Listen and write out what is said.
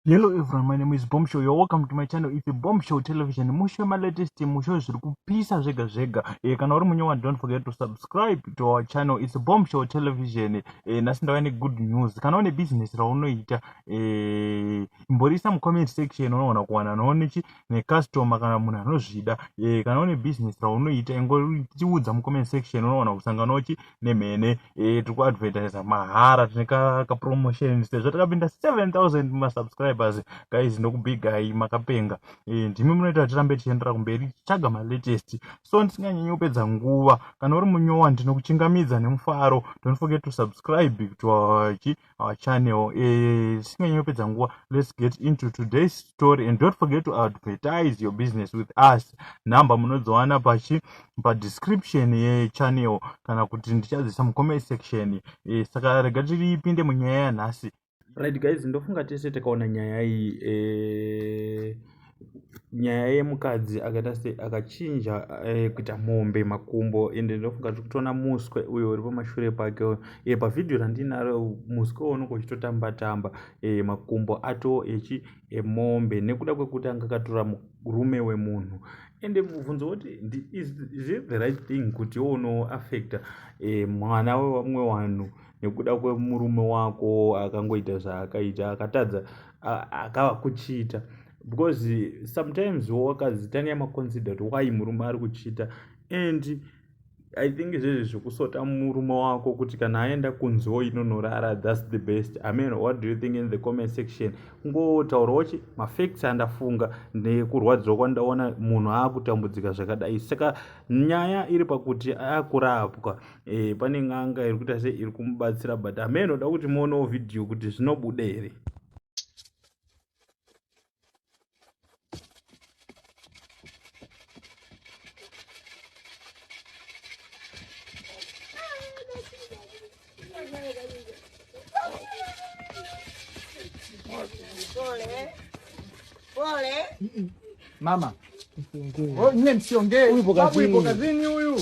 Hello everyone, my name is Bombshell. You're welcome to my channel. It's Bombshell Television. Mushe ma latest mushe zviri kupisa zvega zvega. Eh kana uri munyewa don't forget to subscribe to our channel. It's Bombshell Television. Eh nasi ndauya ne good news. Kana une business raunoita eh imborisa mu comment section unoona kuwana noone chi ne customer kana munhu anozvida. Eh kana une business raunoita ingoriudza mu comment section unoona kusangana uchi nemhene eh, tiri kuadvertisa mahara tine kapromotion sezvo takapinda 7000 masubscribers guys ndokubigai makapenga eh, ndimi munoita kuti tirambe tichiendera kumberi tichitsvaga malatest so ndisinganyanyi kupedza nguva kana uri munyowa ndinokuchingamidza nemufaro don't forget to subscribe to our our channel eh, tisinganyi uh, kupedza nguva let's get into today's story and don't forget to advertise your business with us number munodziwana pachi padescription yechannel kana kuti ndichadzisa mucomment section eh, saka rega tiripinde munyaya yanhasi right guys ndofunga tese takaona nyaya iyi eh, nyaya yemukadzi akaita se akachinja kuita mombe makumbo ende ndofunga tiri kutoona muswe uyo uri pamashure pake uyo e pavhidhiyo randinaro muswe unenge uchitotamba tamba e makumbo ato echi emombe nekuda kwekuti anga akatora murume wemunhu ende mubvunzo woti is it the right thing kuti iwo unoaffecta e, mwana wevamwe vanhu nekuda kwemurume wako akangoita zvaakaita akatadza akava kuchiita because sometimes wakazitanga maconsider kuti why murume ari kuchiita and i think izvezvi zvekusota murume wako kuti kana aenda kunzi wo inonorara thats the best i mean what do you think in the comment section kungotaura wachi mafacts andafunga nekurwadziwa kwandaona munhu aakutambudzika zvakadai saka nyaya iri pakuti akurapwa eh, pane n'anga iri kuita se iri kumubatsira but hame inoda kuti muonewo vhidhiyo kuti zvinobuda here Mama, msiongee. Msiongee. Huyu ipo kazini huyu.